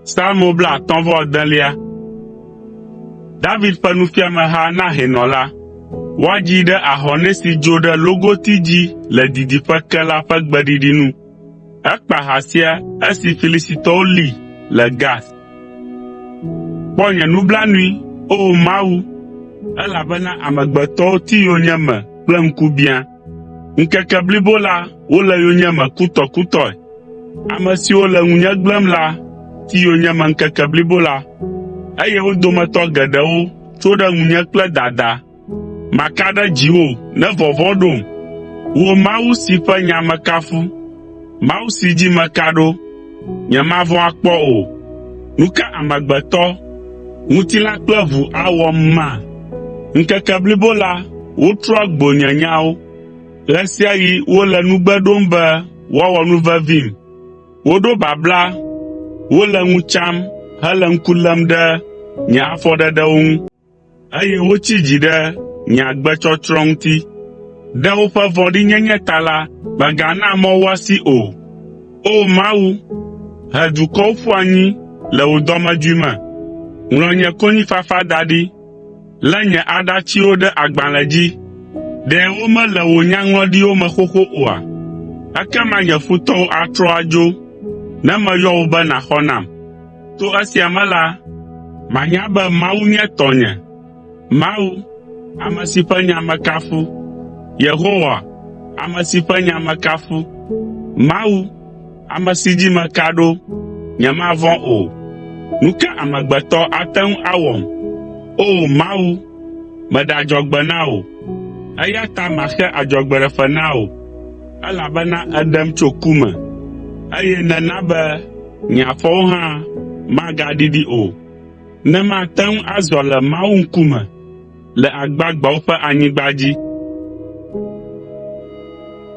Psalmo blaatɔ̃ vɔ adelia. David ƒe nufiameha na hɛnɔ la. Woadzii ɖe ahɔnɛ si dzo ɖe logoti dzi le didiƒe ke la ƒe gbeɖiɖi nu. Ekpa ha sia esi Filistitɔwo lí le Gat. Kpɔ nye nublanui, O Mawu, elabena amegbetɔwo ti yonyeme kple ŋkubiã. Ŋkeke blibo la, wole yonyeme kutɔkutɔe. Ame siwo le ŋunye gblẽm la ti yonyeme ŋkeke blibo la, eye wo dometɔ geɖewo tso ɖe ŋunye kple dada. Maka ɖe dziwò ne vɔvɔ̃ ɖom, wò Mawu si ƒe nya mekafu, Mawu si dzi meka ɖo. Nyemavɔ̃ akpɔ o. Nu ka amegbetɔ, ŋutilã kple ʋu awɔm ma? Ŋkeke blibo la, wotrɔa gbo nye nyawo. Ɣe sia ɣi wole nugbe ɖom be woawɔ nu vevim. Woɖo babla, wole ŋu tsam hele ŋku lém ɖe nye afɔɖeɖewo ŋu. Eye wotsi dzi ɖe nye agbetsɔtsrɔ̃ ŋuti. Ɖe woƒe vɔ̃ɖinyenye ta la, mègana mɔ woasi o. O Mawu, he dukɔwo ƒu anyi le wò dɔmedzoe me. Ŋlɔ nye konyifafa da ɖi. Lé nye aɖatsiwo ɖe agbalẽ dzi. Ɖe womele wò nyaŋlɔɖiwo me xoxo oa? Ekema nye futɔwo atrɔ adzo, ne meyɔ wò be nàxɔ nam. To esia me la, manya be Mawu nye tɔnye, Mawu, ame si ƒe nya mekafu, Yehowa, ame si ƒe nya mekafu, Mawu, ame si dzi meka ɖo, nyemavɔ̃ o. Nu ka amegbetɔ ate ŋu awɔm? O Mawu, meɖe adzɔgbe na wò, eya ta maxe adzɔgbeɖefe na wò, elabena èɖem tso ku me, eye nèna be Nye afɔwo hã magaɖiɖi o, ne mate ŋu azɔ le Mawu ŋkume le agbagbeawo ƒe anyigba dzi.